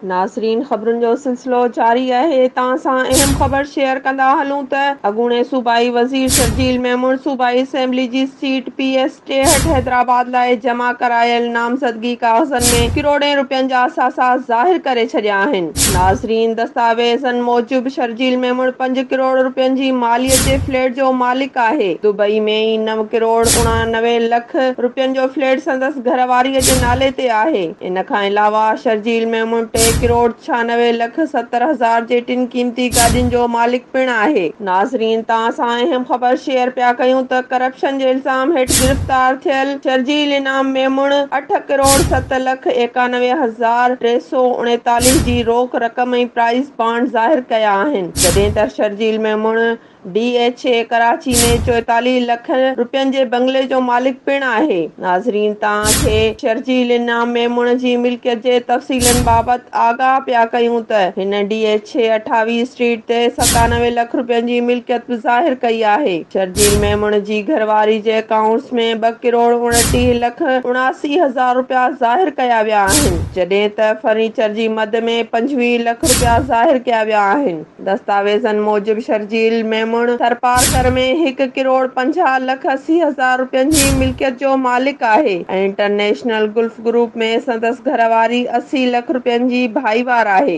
ناظرين خبرن جو سلسلو جاري آهي توهان سان اهم خبر شيئر ڪندا هلون ته اڳوڻي صوبائي وزير شرجيل ميمڻ صوبائي اسيمبلي جي سيٽ پي ايس ٽيهٺ حيدرآباد لاء جمع ڪرايل نامزدگي ڪاغذن ۾ ڪروڙين رپين جا اثاثا ظاهر ڪري ڇڏيا آهن. ناظرين دستاويزن موجب شرجيل ميمڻ پنج ڪروڙ رپين جي ماليت جي فليٽ جو مالڪ آهي دبئي ۾ ئي نو ڪروڙ اڻانوي لک رپين جو فليٽ سندس گهرواري جي نالي تي آهي. ان کان علاوه شرجيل ميمڻ ٽي ڪروڙ ڇهانوي لک ستر هزار جي ٽن قيمتي گاڏين جو مالڪ پڻ آهي. ناظرين توهان سان اهم خبر شيئر پيا ڪيون ته ڪرپشن جي الزام هيٺ گرفتار ٿيل شرجيل انعام ميمڻ اٺ ڪروڙ ست لک ايڪانوي هزار ٽي سؤ اڻيتاليهه جي روڪ رقم ۽ پرائز بانڊ ظاهر ڪيا آهن جڏهن ته Sharjeel Memon D H A Karachi ۾ چوئيتاليهه لک روپين جي بنگلي جو مالڪ پڻ آهي. ناظرين توهان کي شرجيل انعام ميمڻ جي ملڪيت جي تفصيلن بابت آگاهه پيا ڪيون ته هن ڊي ايڇ اي اٺاويهه اسٽريٽ تي ستانوي لک روپين جي ملڪيت به ظاهر ڪئي آهي. شرجيل ميمڻ جي گهرواري جي اڪائونٽس ۾ ٻه ڪروڙ اڻٽيهه لک اڻاسي هزار روپيا ظاهر ڪيا ويا آهن جڏهن ته فرنيچر جي مد ۾ پنجويهه لک روپيا ظاهر ڪيا ويا آهن. دستاويزن موجب شرجيل ميمڻ ٿرپارڪر ۾ هڪ ڪروڙ پنجاهه لک اسي هزار روپين جي ملڪيت جو مالڪ آهي ۽ انٽرنيشنل گلف گروپ ۾ سندس گهر واري اسي لک روپين جي ڀائيوار آهي.